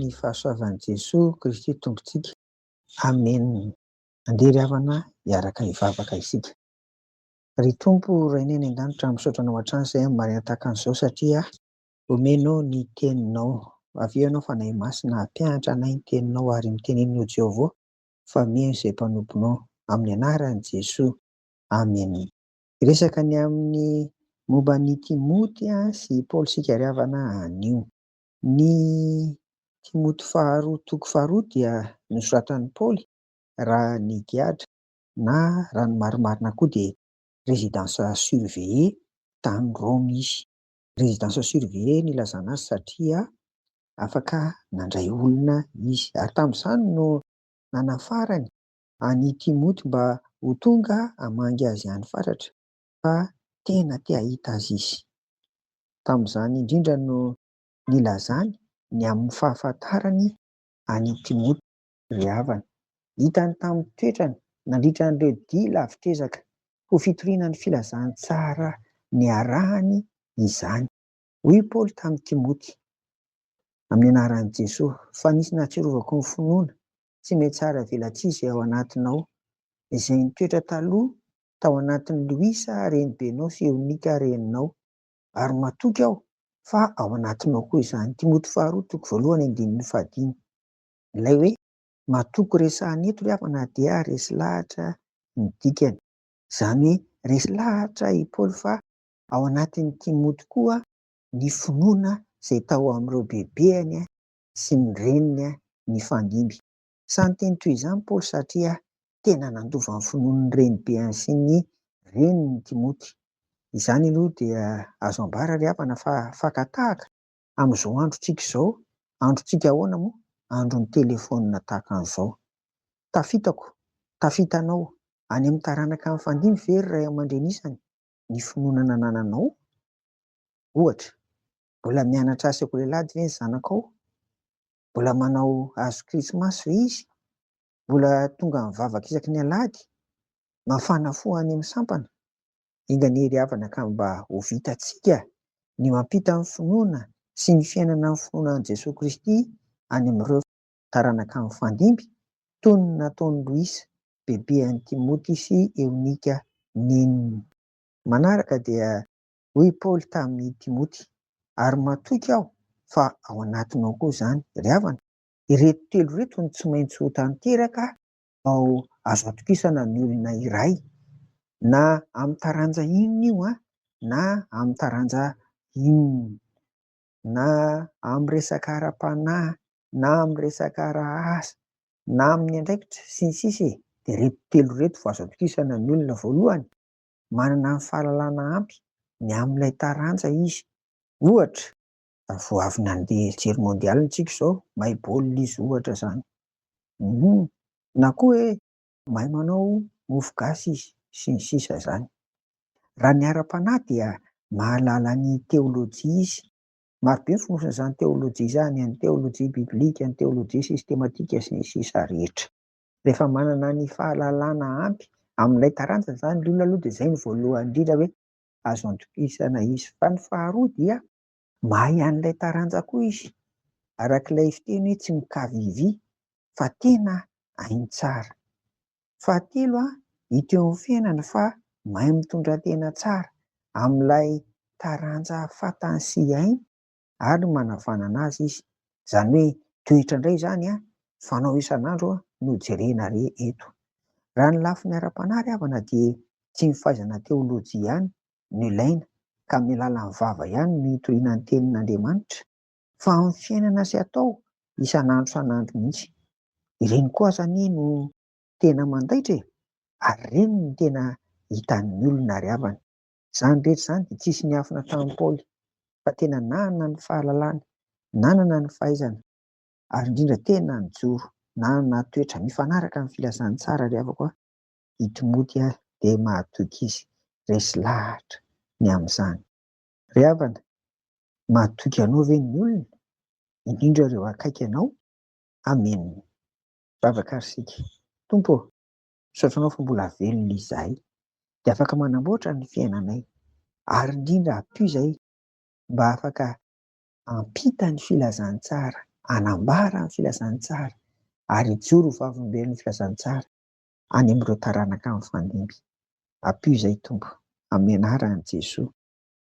ny fahasoavan'i Jesoa Kristy Tompontsika. Amen. Andeha ry havana hiaraka hivavaka isika. Ry Tompo Rainay any an-danitra, misaotra anao hatrany izay amin'ny marina tahaka an'izao satria omenao ny teninao. Avy eo ianao Fanahy Masina hampianatra anay ny teninao ary miteneno Jehovah fa mino izay mpanomponao. Amin'ny anaran'i Jesoa. Aminy. Resaka ny amin'ny momba an'i Timoty sy i Paoly sikariavana anio. Ny Timoty faharoa toko faharoa dia nosoratan'i Paoly raha ny giadra na raha ny marimarina koa dia résidence surveillée tany Roma izy. Résidence surveillée ny ilazana azy satria afaka nandray olona izy ary tamin'izany no nanafarany an'i Timoty mba ho tonga hamangy azy any fatratra fa tena te hahita azy izy. Tamin'izany indrindra no nilazany ny amin'ny fahafantarany an'i Timoty ry havana. Hitany tamin'ny toetrany nandritra an'ireo dia lavitr'ezaka ho fitoriana ny filazantsara niarahany izany. Hoy i Paoly tamin'i Timoty, amin'ny anaran'i Jesoa, fa nisy nahatsiarovako ny finoana tsy mety tsara velatsizy ao anatinao. Izay nitoetra taloha tao anatin'i Louisa renibenao sy Eonika reninao. Ary matoky aho fa ao anatinao koa izany. Timoty faharoa toko voalohany andininy fahadimy. Ilay hoe matoky resahana eto ry havana na dia resy lahatra ny dikany. Izany hoe resy lahatra i Paoly fa ao anatin'i Timoty koa ny finoana izay tao amin'ireo bebeny sy ny reniny nifandimby. Sahy niteny toy izany Paoly satria tena nandova ny finoan'ny renibeny sy ny reniny i Timoty. Izany aloha dia azo ambara ry havana fa fakan-tahaka amin'izao androntsika izao. Androntsika ahoana moa? Andron'ny telefaonina tahaka an'izao. Tafitako, tafitanao, any amin'ny taranaka nifandimby ve ry ray aman-dreny isany ny finoana nanananao? Ohatra, Mbola mianatra sekolelady ve ny zanakao? Mbola manao hazo krismasy ve izy? Mbola tonga mivavaka isaky ny alahady? Mafana fo any amin'ny sampana? Engaanie ry havana ka mba ho vitantsika ny mampita ny finoana sy ny fiainana amin'ny finoana an'i Jesoa Kristy any amin'ireo taranaka mifandimby toy ny nataon'i Luis, bebe an'i Timoty sy Eonika, neniny. Manaraka dia Hoy i Paoly tamin' i Timoty, Ary matoky aho fa ao anatinao koa izany, ry havana. Ireto telo ireto no tsy maintsy ho tanteraka vao azo atokisana ny olona iray, na amin'ny taranja inona io, na amin'ny taranja inona, na amin'ny resaka ara-panahy, na amin'ny resaka ara-asa, na amin'ny andraikitra, sy ny sisa e! Dia ireto telo ireto vao azo atokisana ny olona, Voalohany, manana ny fahalalana ampy ny amin'ilay taranja izy. Ohatra. Vao avy nandeha hijery mondial ntsika izao, mahay baolina izy ohatra izany. Humm. Na koa hoe mahay manao mofo gasy izy, sy ny sisa izany. Raha ny ara-panahy dia mahalala ny teolojia izy. Maro be ny fonosan'izany teolojia izany, ny teolojia biblika, ny teolojia sistematika, sy ny sisa rehetra. Rehefa manana ny fahalalana ampy amin'ilay taranja izany ny olona aloha dia izay no voalohany indrindra hoe azo antokisana izy. Fa ny faharoa dia mahay an'ilay taranja koa izy. Araka ilay fiteny hoe tsy mikavivy fa tena hainy tsara. Fahatelo, hita eo amin'ny fiainany fa mahay mitondra tena tsara amin'ilay taranja fantany sy hainy. ary manavanana azy izy. Izany hoe toetra indray izany an, fanao isan'andro no jerena re eto. Raha ny lafiny ara-panahy ry havana dia tsy ny fahaizana teolojia ihany no ilaina ka amin'ny alalan'ny vava ihany no hitoriana ny tenin'Andriamanitra, fa amin'ny fiainana sy atao isan'andro isan'andro mihitsy. Ireny koa aza anie no tena mandaitra e, ary ireny no tena hitan'ny olona ry havana. Izany rehetra izany dia tsy hisy niafina tamin'i Paoly fa tena nanana ny fahalalana, nanana ny fahaizana ary indrindra tena nijoro, nanana toetra mifanaraka amin'ny filazan'ny tsara ry havako a! I Timoty dia mahatoky izy, resy lahatra ny amin'izany. Ry havana, mahatoky anao ve ny olona, indrindra ireo akaiky anao? Amena! Vavaka ry sika, Tompo ô! Misaotra anao fa mbola velona izahay dia afaka manamboatra ny fiainanay ary indrindra ampio izahay mba afaka hampita ny filazantsara, hanambara ny filazantsara ary hijoro ho vavolombelon'ny filazantsara any amin'ireo taranaka mifandimby. Ampio izahay Tompo, amin'ny anaran'i Jesoa.